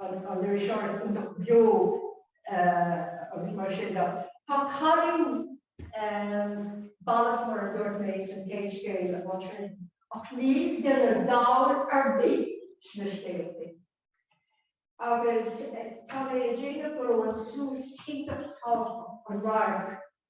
an iriseoir iontach beo agus mar sin de. Tá cailín balbh, mar a dúirt mé, san chéad scéal ansin, ach níl duine dall ar bith sna scéaltaí. Agus tá mé ag déanamh go raibh an súil iontach tábhachtach, an radharc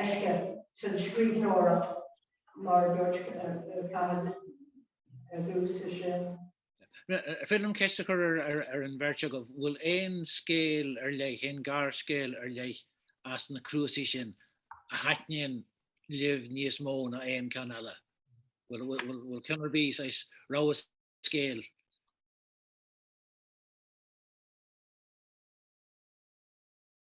ceiste sa scríbhneoireacht mar a dúirt Cathal ar dtús is ea. Ar féidir liom ceist a chur ar an bheirt agaibh, bhfuil aon scéal ar leith, aon ghearrscéal ar leith as na cnuasaigh sin a thaitníonn libh níos mó ná aon ceann eile? Bhfuil ceann ar bith, saghas rogha scéil?